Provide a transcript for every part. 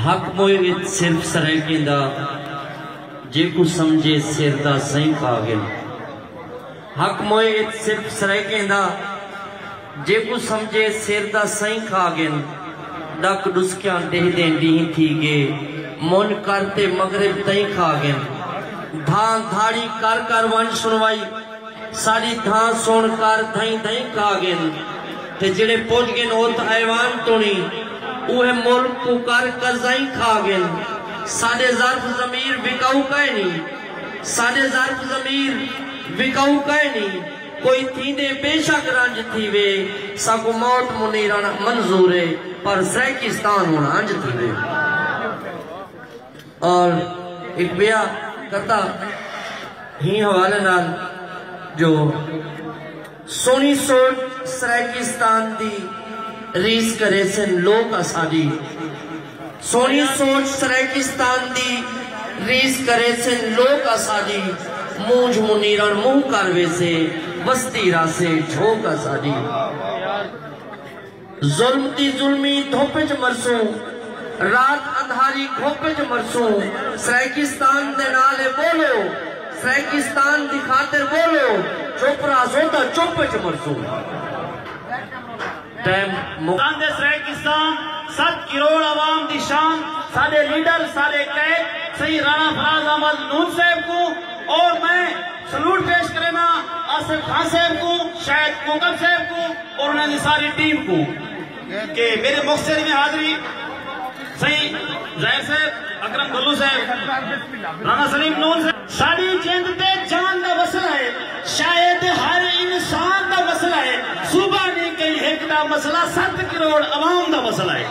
حق موئے وچ صرف سرائیکیں دا جے کو سمجھے سر دا سائیں پا گیا حق موئے وچ صرف سرائیکیں دا جے کو سمجھے سر دا سائیں کھا گیا ڈک ڈسکیاں دے دیں دیہی تھی گے من کرتے مغرب تائیں کھا گیا دھان دھاڑی کر کر ون سنوائی ساݙی دھاں سݨ کر دھئیں دھئیں کا ڳن تے جیڑھے پڄ ڳن ات ایوان توݨی اوہے ملک کوں کر قرضائیں کھا ڳن ساݙے ظرف ضمیر وکاؤ کائنی ساݙے ظرف ضمیر وکاؤ کائنی کوئی تھیندے بے شک رنج تھیوے ساکوں موت منیرݨ منظورے پر سرائیکستان ہݨ انج تھیوے۔ اور ہک بیا کرتا ہی حوالے نال جو سونی سوچ سرائیکیستان دی ریس کرے سن لوک اساڈی سونی سوچ سرائیکیستان دی ریس کرے سن لوک اساڈی مونجھ منیرن منہ کر ویسے وستی راسے جھوک اساڈی۔ ظلم دی ظلمی دھپ اچ مرسوں رات اندھاری گھپ اچ مرسوں سرائیکستان دے نال اے ٻولو سرائیکستان دی خاطر ٻولو چپ رہسوں تاں چپ اچ مرسوں ٹائم مک آندے سرائیکستان ست کروڑ عوام دی شان ساݙے لیڈر ساݙے قائد سئیں رانا فراز احمد نون صاحب کوں اور میں سلوٹ پیش کرینداں آصف خان صاحب کوں، شاہد کوکب صاحب کوں اور انہاں دی ساری ٹیم کوں کہ میرے مختصر میں حاضری سئیں ظاہر صاحب، اکرم گھلو صاحب، رانا سلیم نون صاحب۔ ساݙی جند تے جان دا مسئلہ ہے شاید ہر انسان دا مسئلہ ہے صوبہ نی کئی ہک دا مسئلہ ست کروڑ عوام دا مسئلہ ہے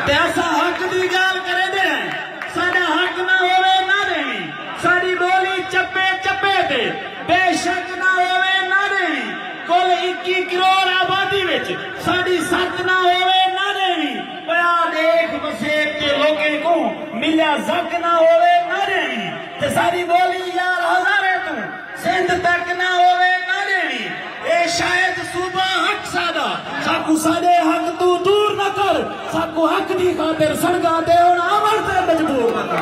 تے اساں حق دی گالھ کریندے ہیں ساݙا حق نہ ہووے نہ ݙیویں ساݙی ٻولی چپے چپے تے بے شک نہ ہووے نہ رہوی۔ کل اکی کروڑ آبادی وچ ساݙی ست نہ ہووے نہ رہوی۔ پیا ݙیکھ وسیب تے لوکیں کوں ملیا زک نہ ہووے نہ رہوی۔ تے ساݙی ٻولی یار ہزاریں توں سندھ تک نہ ہووے نہ ݙیوی اے شاید صوبہ حق ساݙا ساکوں ساݙے حق توں دور نہ کر ساکوں حق دی خاطر سنگا تے ہݨ امر تے مجبور نہ کر